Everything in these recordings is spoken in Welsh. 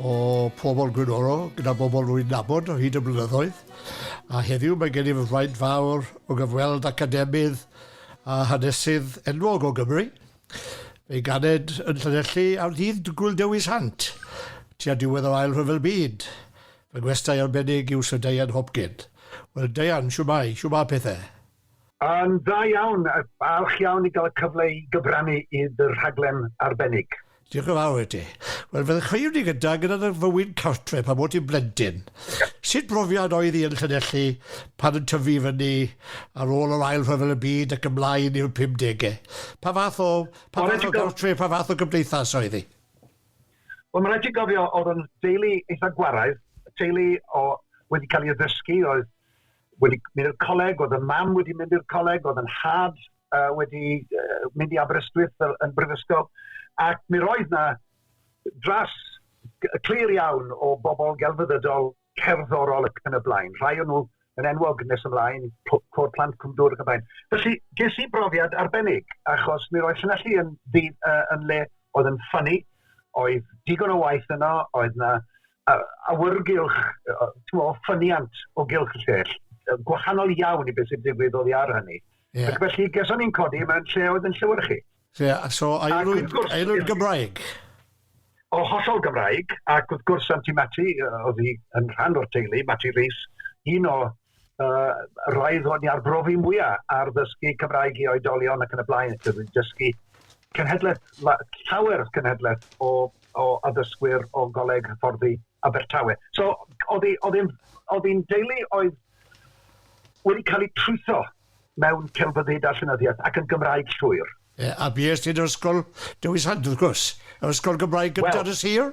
o pobl Gwynnoro gyda bobl rwy'n nabod o hyd y blynyddoedd, a heddiw mae gennyf y fraint fawr o gyfweld academydd a hanesydd enwog o Gymru. Fe'i ganed yn Llanelli ar ddydd Gŵyl Dewi Sant, tua diwedd yr Ail Rhyfel Byd. Fy ngwestai arbennig yw Syr Deian Hopkin. Wel, Deian, shwmae, shwmae pethau? Yn dda iawn, falch iawn i gael y cyfle i gyfrannu i dy rhaglen arbennig. Diolch yn fawr i ti. Wel, fel chi wedi gyda gyda dy fywyd cartre pan bod ti'n blentyn, sut brofiad oedd hi yn Llanelli pan yn tyfu i fyny ar ôl yr Ail Rhyfel y Byd ac ymlaen i'r pumdege? Pa fath o, pa fath o gartre, pa fath o gymdeithas oedd hi? Wel, mae'n rhaid ti gofio, oedd yn deulu eitha gwaraidd, teulu o, wedi cael ei addysgu, oedd wedi mynd i'r coleg, oedd y mam wedi mynd i'r coleg, oedd yn nhad uh, wedi uh, mynd i Aberystwyth fel, yn brifysgol, ac mi roedd na dras clir iawn o bobl gelfyddydol cerddorol ac yn y blaen. Rhai o'n nhw yn enwog nes ymlaen, cwr plant cwmdwr ac yn blaen. Felly, ges i brofiad arbennig, achos mi roedd Llanelli yn, yn, uh, yn le oedd yn ffynnu, oedd digon o waith yno, oedd na awyrgylch, tmo, ffyniant o gylch y llell, gwahanol iawn i beth sy'n digwydd oddi ar hynny. Yeah. Ac felly, geson ni'n codi mewn lle oedd yn llywyr chi. Yeah, so aelwyd, aelwyd Gymraeg? O, hollol Gymraeg, ac wrth gwrs Santi Mati, oedd hi yn rhan o'r teulu, Mati Rees, un o uh, roedd hwn i arbrofi mwyaf ar ddysgu Cymraeg i oedolion ac yn y blaen, ac yn dysgu cenhedlaeth, llawer cenhedlaeth o, o addysgwyr o goleg hyfforddi Abertawe. So, oedd hi'n deulu oedd wedi cael ei trwytho mewn celfyddyd a llenyddiaeth, ac yn Gymraeg llwyr. Ie, a bues ti'n yr ysgol Dewi Sant, wrth gwrs, yr ysgol Gymraeg gyntaf yn y sir?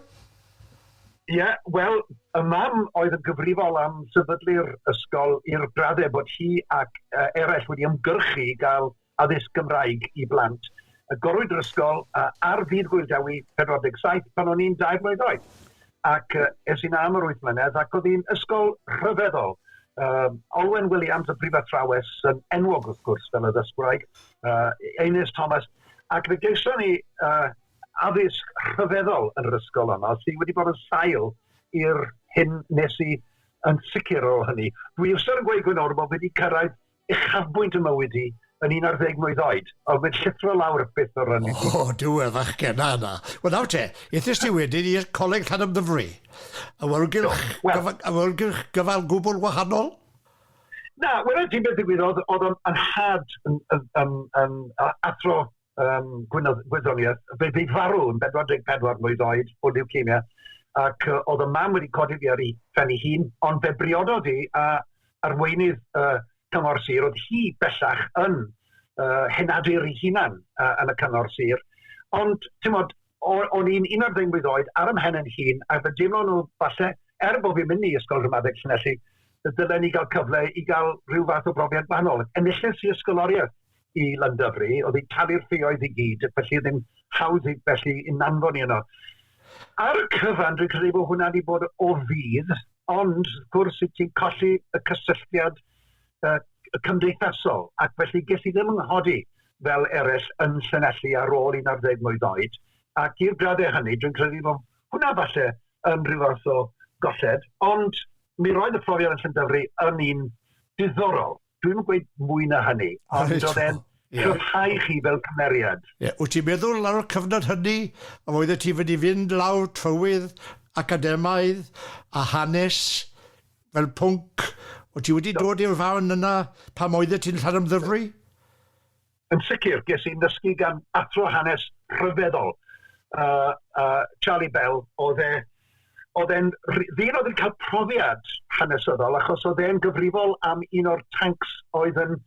Ie, wel, y mam oedd yn gyfrifol am sefydlu'r ysgol i'r graddau bod hi ac uh, eraill wedi ymgyrchu i gael addysg Gymraeg i blant. Agorwyd yr ysgol uh, ar ddydd Gwyl Dewi 47 pan o'n i'n dair mlynedd oed. ac es i'n am yr wyth mlynedd ac oedd hi'n ysgol rhyfeddol. Um, Olwen Williams, y prifathrawes yn enwog wrth gwrs fel y ddysgwraig, uh, Einus Thomas, ac fe geision ni uh, addysg rhyfeddol yn yr ysgol yno, sydd wedi bod yn sail i'r hyn nes i yn sicr o hynny. Dwi eisiau yn gweud gwyn o'r bod wedi cyrraedd uchafbwynt y mywyd hi, yn un ar ddeg mlwydd oed, ond mae'n llithro lawr byth o ran i ti. O, duw y fachgen 'na yna. Wel, nawr te, ethest ti wedyn i'r Coleg Llanymddyfri. Awyrgylch, awyrgylch gyfan gwbl wahanol? Na, wel, ti'n beth ddigwyddodd, oedd o'n anhad yn, yn, yn, yn athro um, gwyddoniaeth, fe fydd farw yn 44 mlwydd oed o leukemia, ac uh, oedd y mam wedi codi fi ar ei phen ei hun, ond fe briododd i a arweinydd uh, cyngor sir, oedd hi bellach yn uh, henadur ei hunan uh, yn y cyngor sir, ond, ti'n modd, o'n i'n 11 mlwydd oed ar ymhen yn hun, a fe deimlo nhw falle, er bod fi'n mynd i ysgol rhymadeg Llanelli, dylen ni gael cyfle i gael rhyw fath o brofiad gwahanol. Enilles i ysgoloriaeth i Londonderry, oedd hi'n talu'r ffioedd i gyd, felly ddim hawdd i felly i nanfon i yno. Ar y cyfan, dwi'n credu bod hwnna wedi bod o fydd, ond wrth gwrs i ti'n colli y cysylltiad uh, cymdeithasol, ac felly ges i ddim yng nghodi fel eraill yn Llanelli ar ôl 11 mlwydd oed, ac i'r graddau hynny, dwi'n credu bod hwnna falle yn rhyw fath o golled, ond mi roedd y profiad yn Llandyfri yn un diddorol. Dwi'm yn gweud mwy na hynny, ond Reit, oedd e'n ie. cryfhau chi fel cymeriad. Ie, wyt ti'n meddwl ar y cyfnod hynny a oeddet ti wedi fynd lawr trywydd academaidd a hanes fel pwnc, wyt ti wedi dod i'r farn yna pam oeddet ti'n Llanymddyfri? Yn sicr, ges i 'nysgu gan athro hanes rhyfeddol, uh, uh, Charlie Bell, oedd e oedd e'n ddyn oedd yn cael profiad hanesyddol achos oedd e'n gyfrifol am un o'r tancs oedd yn,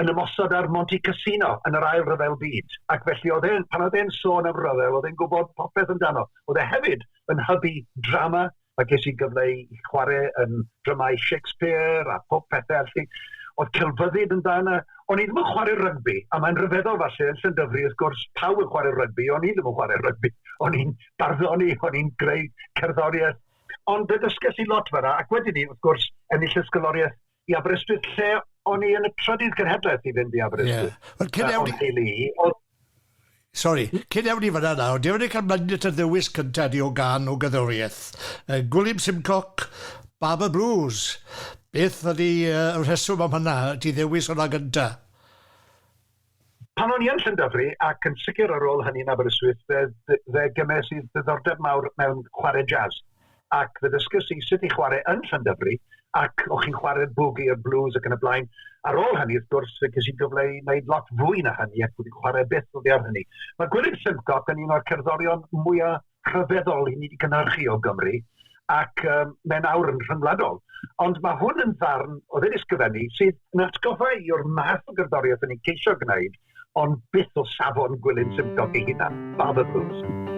yn ymosod ar Monte Cassino yn yr ail rhyfel byd. Ac felly oedd e'n, pan oedd e'n sôn am rhyfel, oedd e'n gwybod popeth amdano. Oedd e hefyd yn hybu drama a ges i gyfle i chwarae yn dramâu Shakespeare a pob pethau, felly oedd celfyddyd yn dan, a o'n i ddim yn chwarae rygbi, a mae'n rhyfeddol falle, yn Llynddyfri, wrth gwrs, pawb yn chwarae rygbi, o'n i ddim yn chwarae rygbi, o'n i'n barddoni, o'n i'n greu cerddoriaeth, ond fe ddysges i lot fanna, ac wedyn ni, wrth gwrs, ennill ysgoloriaeth i Aberystwyth lle o'n i yn y trydydd cenhedlaeth i fynd i Aberystwyth. Yeah. Wel, cyn ewn i... Oedd... Sorry, cyn ewn i fyna na, ond ewn i cael mynd at y ddewis cyntaf di o gan o gyddoriaeth. Uh, Gwilym Simcock, Barber Blues. Beth ydy uh, rheswm am hynna, ti ddewis hwnna gyntaf? Pan o'n i yn Llandyfri, ac yn sicr ar ôl hynny yn Aberystwyth, fe, fe gymes i ddiddordeb mawr mewn chwarae jazz. Ac fe ddysges i sut i chwarae yn Llandyfri, ac o'ch chi'n chwarae'r boogie a'r blues ac yn y blaen. Ar ôl hynny, wrth gwrs, fe ges i gyfle i wneud lot fwy na hynny, ac wedi chwarae byth oddi ar hynny. Mae Gwilym Simcock yn un o'r cerddorion mwyaf rhyfeddol i ni wedi cynhyrchu o Gymru, ac um, mae'n awr yn rhyngwladol. Ond mae hwn yn ddarn o ddyn ysgrifennu sydd yn atgoffa i o'r math o gerddoriaeth yn ei ceisio gwneud, ond byth o safon gwylyn symptog ei hunan, Father Blues.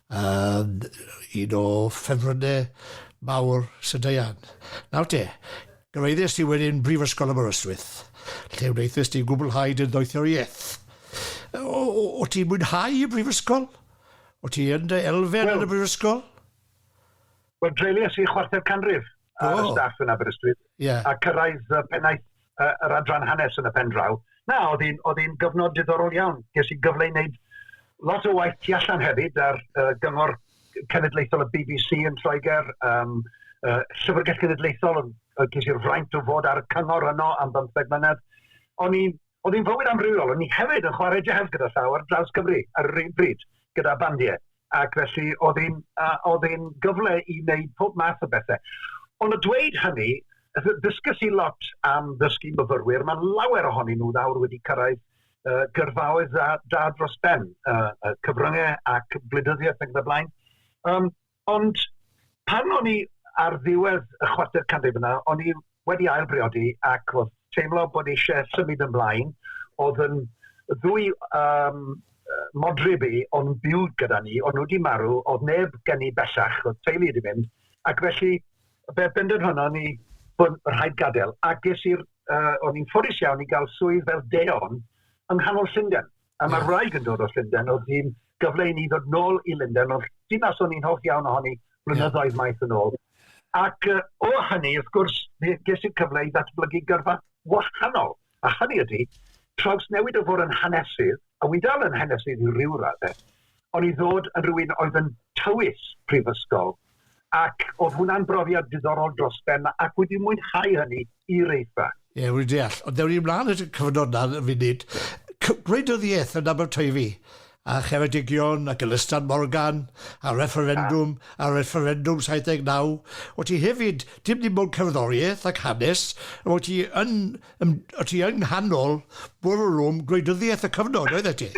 Yn un o ffefrynnau mawr Sir Deian. Nawr te, gyrhaeddes di wedyn Brifysgol Aberystwyth, lle wnaethes di gwblhau dy ddoethuriaeth. O, o, o ti'n mwynhau y brifysgol? O ti yn dy elfen well, yn y brifysgol? Wel, dreulies i chwarter canrif ar y staff yn Aberystwyth yeah. a cyrraedd y pennaeth uh, yr adran hanes yn y pen draw. Na, oedd hi'n oedd hi'n gyfnod diddorol iawn. Ges i gyfle i wneud lot o waith tu allan hefyd ar uh, gyngor cenedlaethol y BBC yn Lloegr, um, uh, Llyfrgell Genedlaethol, uh, ges i'r fraint o fod ar y cyngor yno am bymtheg mlynedd. O'n i'n Oedd hi'n fywyd amrywiol, o'n i hefyd yn chwarae jazz gyda llaw ar draws Cymru ar yr un bryd, gyda bandiau. ac felly oedd hi'n uh, oedd hi'n gyfle i wneud pob math o bethau. Ond y dweud hynny, ddysgys i lot am ddysgu myfyrwyr, mae lawer ohonyn nhw ddawr wedi cyrraedd uh, gyrfaoedd dda, da dros ben, uh, uh, cyfryngau ac blydyddiaeth ac y blaen. Um, ond pan o'n i ar ddiwedd y chwarter canrif yna, o'n i wedi ail-briodi ac oedd teimlo bod eisiau symud ymlaen. Oedd yn ddwy um, modryb i o'n byw gyda ni, o'n nhw wedi marw, oedd neb gen i bellach, oedd teulu wedi mynd, ac felly fe bendant honno ni bod rhaid gadael. Ac ges i'r, uh, o'n i'n ffodus iawn i gael swydd fel deon yng nghanol Llundain. A mae'r yeah. wraig yn dod o Llundain, oedd hi'n gyfle i ni ddod nôl i Lundain, ond dinas o'n i'n hoff iawn ohoni blynyddoedd yeah. maith yn ôl. Ac uh, o hynny, wrth gwrs, ges i'r cyfle i ddatblygu gyrfa wahanol. A hynny ydy, traws newid o fod yn hanesydd, a wy dal yn hanesydd i ryw raddau, o'n i'n ddod yn rhywun oedd yn tywys prifysgol, ac oedd hwnna'n brofiad diddorol dros ben, ac wedi mwynhau hynny i reithfa. Ie, wedi deall. Ond dewn ni mlaen at y cyfnod na yn funud. Gwleidyddiaeth yn Aberteifi, a Cheredigion, ac Ylistan Morgan, a refferendwm, a refferendwm 79. O ti hefyd, dim dim ond cerddoriaeth ac hanes, o ti yn, o ti yng nghanol bwrlwm gwleidyddiaeth y cyfnod, oeddet ti?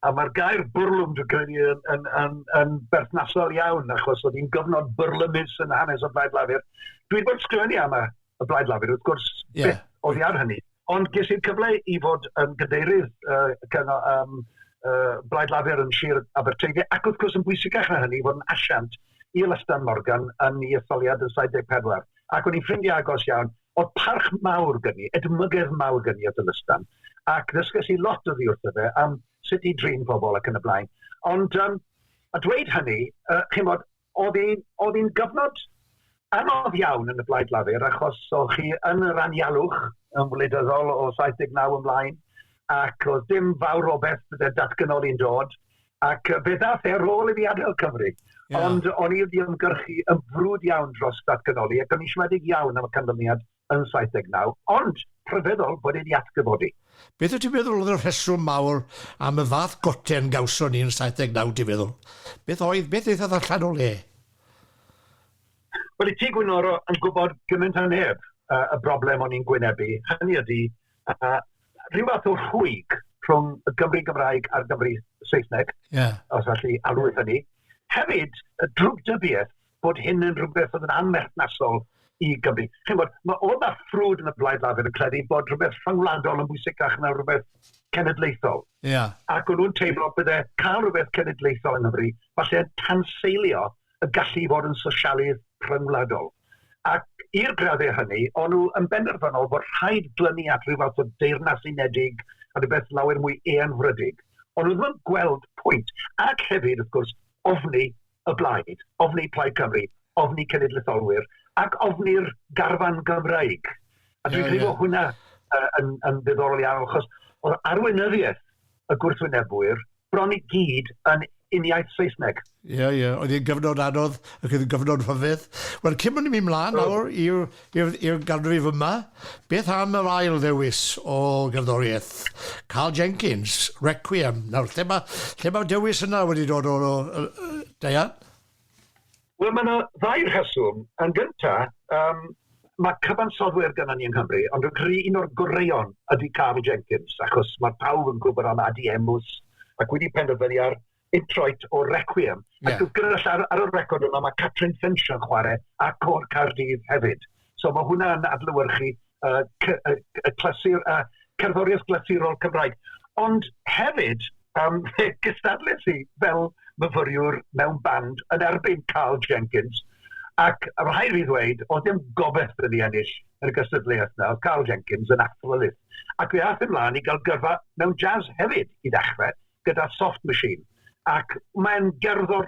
A mae'r gair bwrlwm, dwi'n credu, yn, yn, yn, yn berthnasol iawn, achos oedd hi'n gyfnod byrlymus yn hanes y Blaid Lafur. Dwi wedi bod yn sgrifennu am y Blaid Lafur, wrth gwrs, yeah. beth oedd ar hynny. Ond ges i'r cyfle i fod yn gadeirydd uh, cyngor, um, uh, Blaid Lafur yn Sir Aberteifi, ac wrth gwrs yn bwysicach na hynny, fod yn asiant i Lystan Morgan yn ei etholiad yn 74. Ac o'n i'n ffrindiau agos iawn, O'dd parch mawr gen i, edmygedd mawr gen i o Dylystan, ac ddysges i lot oddi wrtho fe am sut i drin pobl ac yn y blaen. Ond um, a dweud hynny, uh, chymod, oedd hi'n gyfnod anodd iawn yn y Blaid Lafur achos oedd chi yn yr anialwch yn wleidyddol o 79 ymlaen ac oedd dim fawr o beth bydde datganoli'n dod Ac fe ddaeth e ar ôl i mi adael Cymru. Yeah. Ond o'n i wedi ymgyrchu yn frwd iawn dros datganoli ac o'n i'n siomedig iawn am y canlyniad yn 79, ond rhyfeddol bod e wedi atgyfodi. Beth wyt ti'n meddwl oedd y rheswm mawr am y fath goten gawson ni yn 79 ti'n meddwl? Beth oedd, beth ddaethodd allan o le? Wel, y Tŷ Gwynorol yn gwybod gymaint a neb y broblem o'n i'n gwynebu, hynny ydi, a rhyw fath o rhwyg rhwng y Gymru Gymraeg a'r Gymru Saesneg, yeah. os allu alw yeah. hynny. Hefyd, y drwg dybiaeth bod hyn yn rhywbeth oedd yn anmerthnasol i Gymru. Chi'n bod, mae oedd a ffrwd yn y blaid lafur yn credu bod rhywbeth rhyngwladol yn bwysicach na rhywbeth cenedlaethol. Yeah. Ac o'n nhw'n teimlo bydde cael rhywbeth cenedlaethol yng Nghymru, falle tanseilio y gallu i fod yn sosialydd rhyngwladol. Ac i'r graddau hynny, o'n nhw yn benderfynol bod rhaid glynu at ryw fath o Deyrnas Unedig a rhywbeth lawer mwy eangfrydig. O'n nhw ddim yn gweld pwynt. Ac hefyd, wrth gwrs, ofni y blaid, ofni Plaid Cymru, ofni cenedlaetholwyr, ac ofni'r garfan Gymraeg. A dwi'n credu bod hwnna yn, yn ddiddorol iawn, achos oedd arweinyddiaeth y gwrthwynebwyr bron i gyd yn uniaith Saesneg. Ie, yeah, ie. Yeah. Oedd hi'n gyfnod anodd ac oedd hi'n gyfnod rhyfedd. Wel, cyn bod ni'n mynd mlaen nawr i'r ganrif yma, beth am yr ail ddewis o gerddoriaeth? Carl Jenkins, Requiem. Nawr, lle mae, lle mae dewis yna wedi dod o, o, o Diane? Wel, mae yna ddau rheswm. Yn gyntaf, um, mae cyfansoddwyr gyda ni yng Nghymru, ond dwi'n credu un o'r goreuon ydy Carl Jenkins, achos mae pawb yn gwybod am Adi Emus, ac wedi penderfynu ar introit o Requiem. Yeah. Ac gyda ar, ar y record yma, mae Catrin Finch yn chwarae a Cor Cardydd hefyd. So mae hwnna'n adlywyrchu y c- y c- y clasur- y cerddoriaeth glasurol Cymraeg. Ond hefyd, yym, fe gystadles i fel myfyriwr mewn band yn erbyn Carl Jenkins, ac rhaid fi ddweud, oedd dim gobeith 'da ni ennill yn y gystadleuaeth 'na, oedd Carl Jenkins yn athrolydd. Ac fe aeth ymlaen i gael gyrfa mewn jazz hefyd i ddechrau, gyda Soft Machine. Ac mae'n gerddor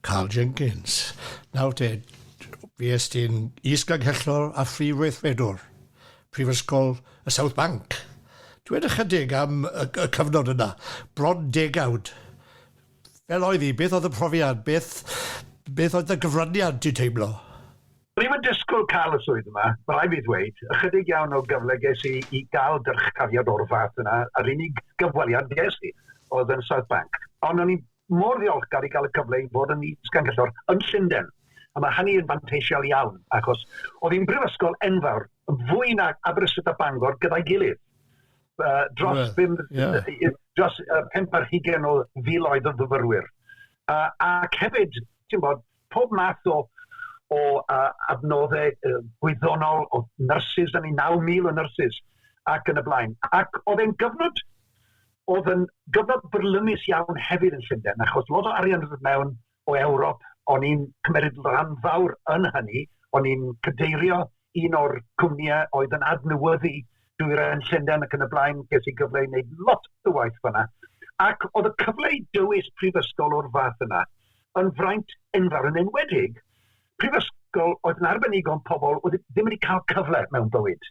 Karl Jenkins, Nawr te, fues ti'n Is-Ganghellor a Phrif Weithredwr Prifysgol y South Bank. Dwed ychydig am y y cyfnod yna, bron degawd. Fel oedd hi? Beth oedd y profiad? Beth beth oedd dy gyfraniad, ti'n teimlo? O'n i'm yn disgwyl cael y swydd yma, ma' raid fi ddweud. Ychydig iawn o gyfle ges i i gael dyrchafiad o'r fath yna, a'r unig gyfweliad ges i oedd yn South Bank. Ond o'n i'n mor ddiolchgar i gael y cyfle i fod yn Is-ganghellor yn Llundain, a mae hynny yn fanteisiol iawn, achos oedd hi'n brifysgol enfawr, fwy na Aberystwyth a Bangor gyda'i gilydd. Uh, dros, well, bim, yeah. dros uh, pimp ar hugen o filoedd o fyfyrwyr. Uh, ac hefyd, ti'n bod, pob math o o uh, adnoddau uh, gwyddonol o nyrsys, da ni 9,000 o nyrsys ac yn y blaen. Ac oedd e'n gyfnod oedd yn gyfnod byrlymus iawn hefyd yn Llundain, achos lot o arian oedd mewn o Ewrop, o'n i'n cymeryd rhan fawr yn hynny, o'n i'n cadeirio un o'r cwmnïau oedd yn adnewyddu dwyrain Llundain ac yn y blaen, ges i gyfle i wneud lot o waith fyna. Ac oedd y cyfle i dywys prifysgol o'r fath yna yn fraint enfawr yn enwedig prifysgol oedd yn arbenigo yn pobl oedd ddim wedi cael cyfle mewn bywyd.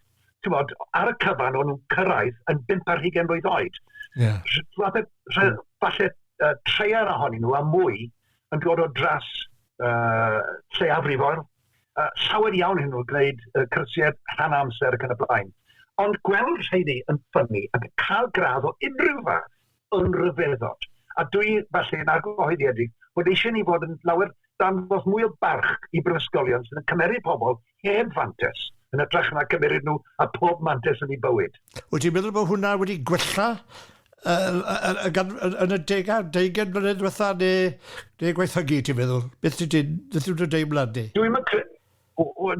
Bod, ar y cyfan o'n nhw'n cyrraedd yn bimp ar hugen mlynedd oed. Yeah. Falle, falle uh, treier ohonyn nhw a mwy yn dod o dras uh, lleiafrifoedd llawer iawn ohonyn nhw gwneud uh, cyrsiau rhan amser ac yn y blaen. Ond gweld rheini yn ffynnu ac yn cael gradd o unrhyw fath yn rhyfeddod. A dwi falle yn argyhoeddiedig bod eisiau ni fod yn lawer dangos mwy o barch i brifysgolion sydd yn cymeru pobl heb fantes yn ytrach na cymeryd nhw a pob mantes yn ei bywyd. Wyt ti'n meddwl bod hwnna wedi gwella yn y degau, deugain mlynedd diwetha, neu, neu gwaethygu, ti'n meddwl? Beth ti'n ti'n, beth ti'n deimlad di? Dwi'n credu,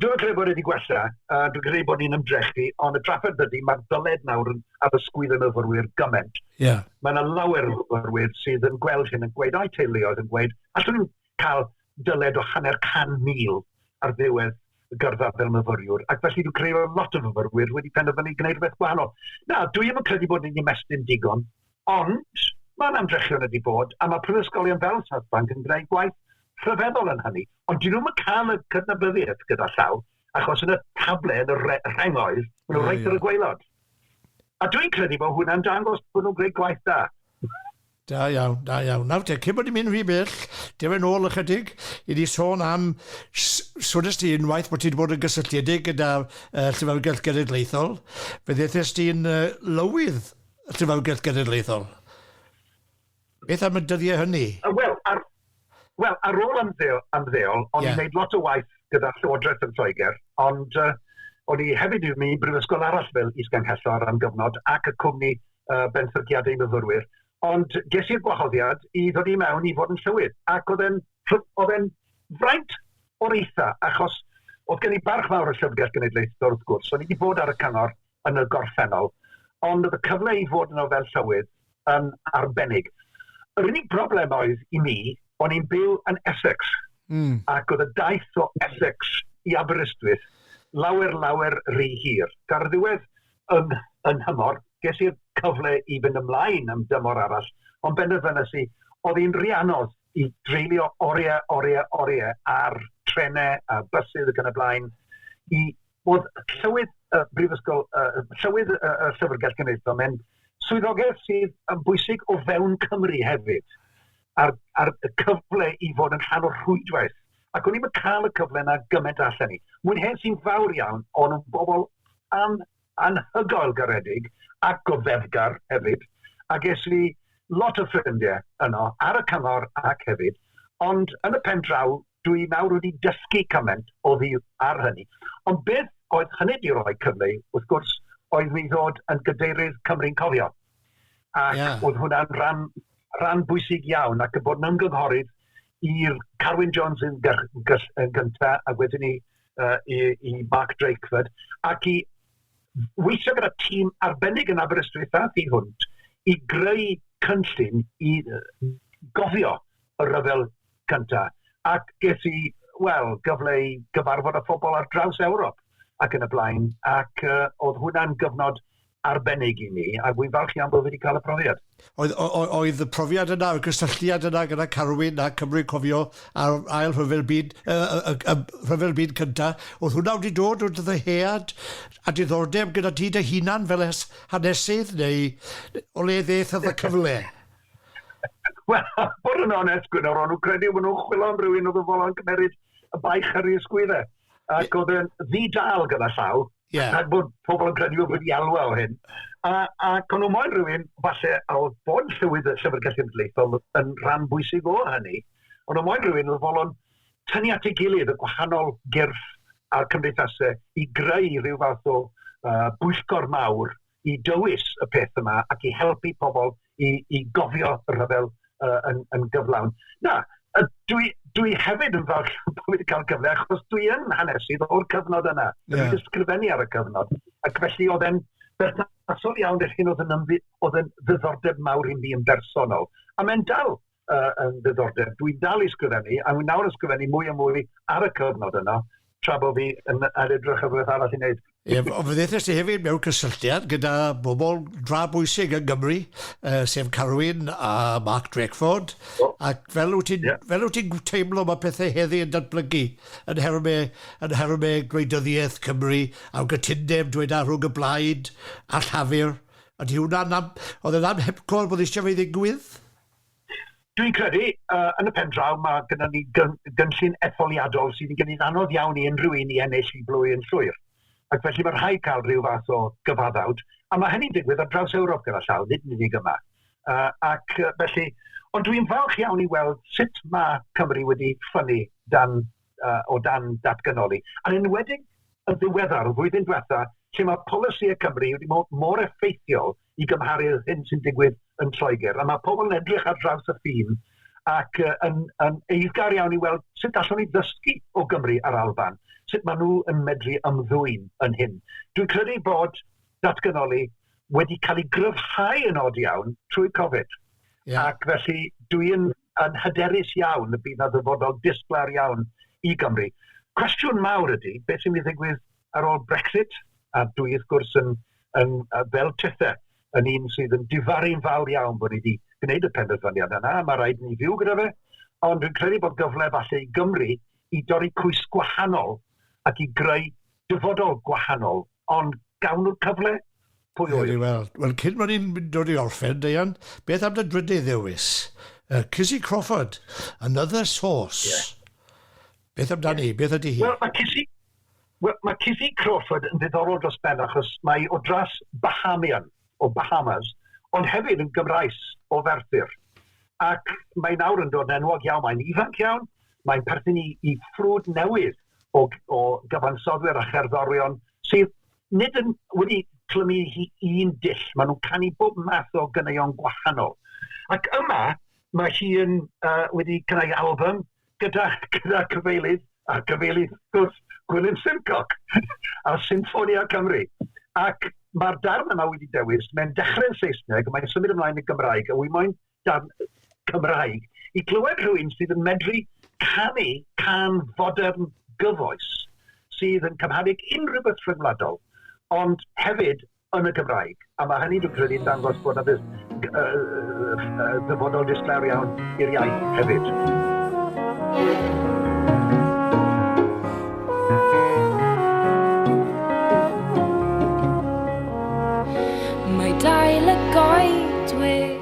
dwi'n credu bod wedi gwella, a dwi'n credu bod ni'n ymdrechu, ond y trafferth ydy, mae'r dyled nawr yn addysgwydd yn yfyrwyr gymaint. Yeah. Mae yna lawer o yfyrwyr sydd yn gweld hyn yn gweud, a'i teuluoedd yn gweud, allwn nhw, cael dyled o hanner can mil ar ddiwedd y gyrfa fel myfyriwr, ac felly dwi'n credu bod lot o fyfyrwyr wedi penderfynu gwneud rhywbeth gwahanol. Na, dwi ddim yn credu bod ni'n ymestyn digon, ond mae'n amdrechion ydi bod, a mae prifysgolion fel South Bank yn gwneud gwaith rhyfeddol yn hynny, ond dyn nhw'n cael y cydnabyddiaeth gyda llaw, achos yn y table, yn y rhengoedd, maen nhw'n reit ar y gweilod. A dwi'n credu bod hwnna'n dangos bod nhw'n gwneud gwaith da. Da iawn, da iawn. Nawr te, cyn bod ni'n mynd rhy bell, dewch yn ôl ychydig i ni sôn am, swnest ti unwaith bod ti wedi bod yn gysylltiedig gyda uh, Llyfrgell Genedlaethol, fe ddethest ti'n uh, lywydd Llyfrgell Genedlaethol. Beth am y dyddiau hynny? Uh, Wel, ar, Wel, ar ôl ymddeol, ymddeol o'n yeah. i'n gwneud lot o waith gyda Llywodraeth yn Lloegr, ond uh, o'n i hefyd yn mynd i brifysgol arall fel isganghellor am gyfnod ac y cwmni uh, benthyciadau myfyrwyr. Ond ges i'r gwahoddiad i ddod i mewn i fod yn llywydd, ac oedd e'n oedd e'n fraint o'r eitha, achos oedd gen i barch fawr y Llyfrgell Genedlaethol wrth gwrs. O'n i wedi bod ar y cyngor yn y gorffennol, ond oedd y cyfle i fod yno fel Llywydd yn arbennig. Yr unig broblem oedd i mi, o'n i'n byw yn Essex, mm. ac oedd y daith o Essex i Aberystwyth lawer, lawer rhy hir. Ga'r ddiwedd yn, yn hymor, ges i'r cyfle i fynd ymlaen am dymor arall, ond benderfynais i, oedd hi'n rhy anodd i dreulio oriau, oriau, oriau ar trenau a bysydd ac yn y blaen, i bod Llywydd y Brifysgol, Llywydd y Llyfrgell Genedlaethol, mae'n swyddogaeth sydd yn bwysig o fewn Cymru hefyd, a'r, a'r cyfle i fod yn rhan o'r rhwydwaith. Ac o'n i'n cael y cyfle yna gymaint allan ni. Mwyn hen sy'n fawr iawn, ond yn bobl an, anhygoel garedig ac goddefgar hefyd, a ges i lot o ffrindiau yno, ar y cyngor ac hefyd, ond yn y pen draw, Dw i nawr wedi dysgu cymaint oddiwrth ar hynny. Ond beth oedd hynny 'di roi cyfle i, wrth gwrs, oedd mi ddod yn Gadeirydd Cymru'n Cofio. Ac yeah. oedd hwnna'n rhan, rhan bwysig iawn, ac yn bod yn ymgynghorydd i'r Carwyn Jones yn, yn gyntaf, a wedyn ni uh, i, i Mark Drakeford, ac i weithio gyda tîm arbennig yn Aberystwyth a thi hwnt i greu cynllun i gofio y rhyfel cynta, ac ges i, wel, gyfle i gyfarfod â phobl ar draws Ewrop ac yn y blaen, ac uh, oedd hwnna'n gyfnod arbennig i mi, a wy'n falch iawn bod wedi cael y profiad. Oedd, oedd y profiad yna, y gysylltiad yna gyda Carwyn a Cymru Cofio a'r ail rhyfel byd, y, y, y, rhyfel byd cynta, oedd hwnna wedi dod o ddyhead a diddordeb gyda ti dy hunan fel hanesydd neu o le ddeth oedd y cyfle? Wel, bod yn onest, Gwynor, o'n nhw'n credu bod nhw'n chwilio am rywun oedd yn fodlon cymeryd y baich ar ei ysgwydde. Ac oedd yn ddi-dal gyda llaw, yeah. rhaid bod pobl yn credu bod wedi alwa o hyn. A, ac o'n nhw moyn rhywun, falle, a oedd bod llywydd y Llyfrgell Ymdleithol yn rhan bwysig o hynny, ond o'n moyn rhywun oedd fodlon tynnu at ei gilydd y gwahanol gyrff a'r cymdeithasau i greu rhyw fath o uh, bwyllgor mawr i dywys y peth yma ac i helpu pobl i, i gofio y rhyfel uh, yn, yn gyflawn. Na, uh, dwi, dwi hefyd yn falch bod wedi cael cyfle achos dwi yn hanesydd o'r cyfnod yna. Yeah. Dwi'n ysgrifennu ar y cyfnod. Ac felly oedd e'n berthnasol iawn i'r hyn oedd yn, oedd yn ddiddordeb mawr i mi yn bersonol. A mae'n dal uh, yn ddiddordeb. Dwi'n dal i sgrifennu, a dwi'n nawr yn sgrifennu mwy a mwy ar y cyfnod yno, tra bod fi yn, yn edrych ar rhywbeth arall i wneud. Ie, ond fe ddethas ti hefyd mewn cysylltiad gyda bobl dra bwysig yn Gymru, uh, sef Carwyn a Mark Drakeford, oh. ac fel wyt ti'n yeah. fel wyt ti'n teimlo mae pethau heddi yn datblygu yn herme, yn herme gwleidyddiaeth Cymru, a'r gytundeb dweud ar rhwng y blaid a llafur, a di hwnna'n am, oedd e'n am hepcor bod eisiau fe ddigwydd? Dwi'n credu, uh, yn y pen draw, mae gyda ni gyn gynllun etholiadol sydd yn gwneud anodd iawn i unrhyw un i ennill i blwy yn llwyr. Ac felly mae rhaid cael rhyw fath o gyfaddawd, a mae hynny'n digwydd ar draws Ewrop gyda llaw, nid yn unig yma. Uh, ac felly, ond dwi'n falch iawn i weld sut mae Cymru wedi ffynnu dan uh, o dan datganoli. Yn enwedig yn ddiweddar, flwyddyn diwetha, lle mae polisi y Cymru wedi bod mor effeithiol i gymharu â'r hyn sy'n digwydd yn Lloegr. A mae pobl yn edrych ar draws y ffin ac uh, yn, yn eiddgar iawn i weld sut allwn ni ddysgu o Gymru a'r Alban, sut maen nhw yn medru ymddwyn yn hyn. Dwi'n credu bod datganoli wedi cael ei gryfhau yn od iawn trwy Covid. Yeah. Ac felly dwi'n yn hyderus iawn y bydd 'na ddyfodol disglair iawn i Gymru. Cwestiwn mawr ydy, beth sy'n mynd i ddigwydd ar ôl Brexit? A dwi wrth gwrs yn, yn fel Tethe, yn un sydd yn difaru'n fawr iawn bod ni wedi gwneud y penderfyniad yna, mae rhaid ni fyw gyda fe, ond dwi'n credu bod gyfle falle i Gymru i dorri cwys gwahanol ac i greu dyfodol gwahanol, ond gawn nhw'r cyfle? Pwy ŵyr? Wel, wel, wel, cyn bod ni'n dod i orffen, Deian, beth am dy drydydd ddewis? Uh, Cissy Crawford, Another Source. Yeah. Beth amdani? Yeah. Beth ydy hi? Wel, mae Cissy, well, mae Cissy Crawford yn ddiddorol dros ben achos mae o dras Bahamian, o Bahamas, ond hefyd yn Gymraes o Ferthyr. Ac mae nawr yn dod yn enwog iawn, mae'n ifanc iawn, mae'n perthyn i, i ffrwd newydd o, o gyfansodwyr a cherddorion sydd Nid yn wedi clymu hi un dull, maen nhw'n canu bob math o ganeuon gwahanol. Ac yma, mae hi yn uh, wedi creu album gyda, gyda cyfeilydd, a cyfeilydd wrth gwrs, Gwilym Simcock, a Symphonia Cymru. Ac mae'r darn yma wedi dewis, mae'n dechrau'n Saesneg, mae'n symud ymlaen yn Gymraeg, a wy moyn dan Cymraeg, i glywed rhywun sydd yn medru canu can fodern gyfoes sydd yn cymharu'ch unrhyw beth rhyngwladol, ond hefyd yn y Gymraeg. A mae hynny, dwi'n credu, yn dangos bod yna ddyfodol disglair iawn i'r iaith hefyd. Mae dail y goedwig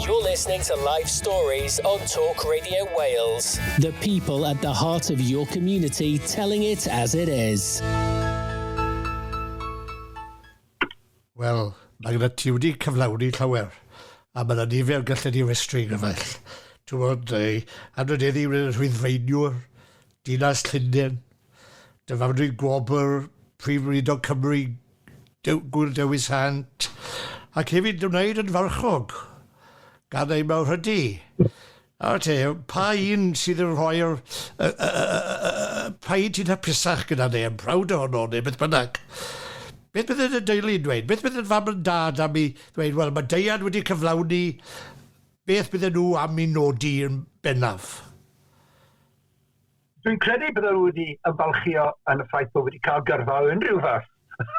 You're listening to Life Stories on Talk Radio Wales. The people at the heart of your community telling it as it is. Wel, mae gyda ti wedi cyflawni llawer, a mae yna nifer galled i westri gyfaill. Ti'n bod, ei, adrodeddi wneud y rhwyddfeiniwr, dinas Llundain, dy fam dwi'n gwobr, prif weinidog Cymru, Gŵyl Dewi Sant, ac hefyd ymwneud yn farchog gan eu mawrhydi. Nawr te, pa un sydd yn rhoi'r... pa un sy'n hapusach gyda neu yn proud ohono neu beth bynnag? Beth bydde dy deulu yn dweud? Beth bydde dy fam and dad am i ddweud, wel, mae Deian wedi cyflawni beth bydde nhw am i nodi yn bennaf? Dwi'n credu bydda nhw wedi ymfalchio yn y ffaith bod wedi cael gyrfa o unrhyw fath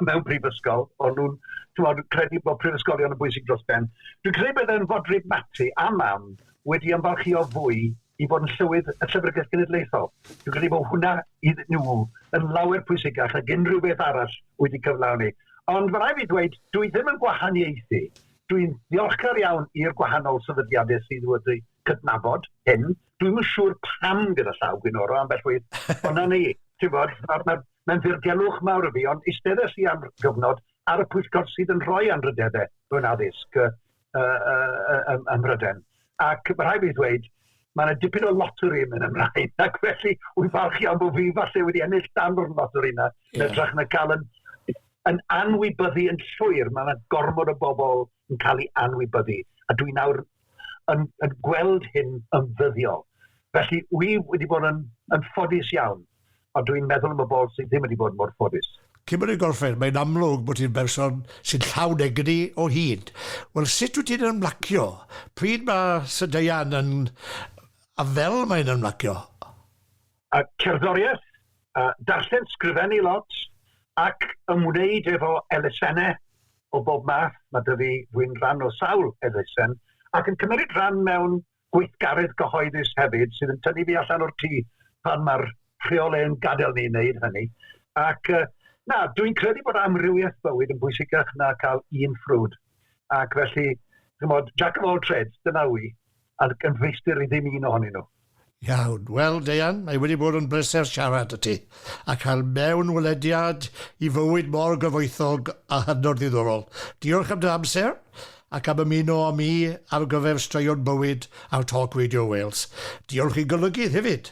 mewn prifysgol, ond nhw'n chymod, credu bod prifysgolion yn bwysig dros ben. Dwi'n credu bydda'n fodryb Mati a mam wedi ymfalchio fwy i fod yn llywydd y Llyfrgell Genedlaethol. Dwi'n credu bod hwnna iddyn nhw yn lawer pwysicach ag unrhyw beth arall wedi cyflawni. Ond mae rhaid fi ddweud, dwi ddim yn gwahaniaethu. Dwi'n ddiolchgar iawn i'r gwahanol sefydliadau sydd wedi cydnabod hyn. Dwi'm yn siŵr pam gyda llaw gwynoro ambell waith, ond 'na ni. Ti'n bod, mae'n mae ddirgelwch mawr y fi, ond eisteddais i am gyfnod ar y pwyllgor sydd yn rhoi anrhydeddau mewn addysg uh, uh, uh, ym Mhryden. Ac mae rhaid fi ddweud, mae yna dipyn o lottery yn mynd ymlaen, ac felly wy'n falch iawn bod fi falle wedi ennill dan o'r lottery yna, yeah. medrach na cael yn, yn anwybyddu yn llwyr, mae yna gormod o bobl yn cael ei anwybyddu, a dwi nawr yn, yn gweld hyn yn ddyddiol. Felly, wy wedi bod yn, yn ffodus iawn, ond dwi'n meddwl am y bol sydd ddim wedi bod mor ffodus. Cymru Golfer, mae'n amlwg bod ti'n berson sy'n llawn egni o hyd. Wel, sut wyt ti'n ymlacio? Pryd mae Sydeian yn... a fel mae'n ymlacio? A cerddoriaeth, a darllen sgrifennu lot, ac ymwneud efo elusennau o bob math, mae 'da fi, dwi'n rhan o sawl elusen, ac yn cymeryd rhan mewn gweithgaredd gyhoeddus hefyd, sydd yn tynnu fi allan o'r tŷ pan mae'r rheolau yn gadael ni wneud hynny. Ac uh, na, dwi'n credu bod amrywiaeth bywyd yn bwysicach na cael un ffrwd. Ac felly, chymod, jack of all trades, dyna wy. a'r gynhwystir i ddim un ohonyn nhw. Iawn. Wel, Deian, mae wedi bod yn bleser siarad â ti a cael mewnwelediad i fywyd mor gyfoethog a hynod ddiddorol. Diolch am dy amser ac am ymuno â mi ar gyfer Straeon Bywyd ar Talk Radio Wales. Diolch i Golygydd hefyd.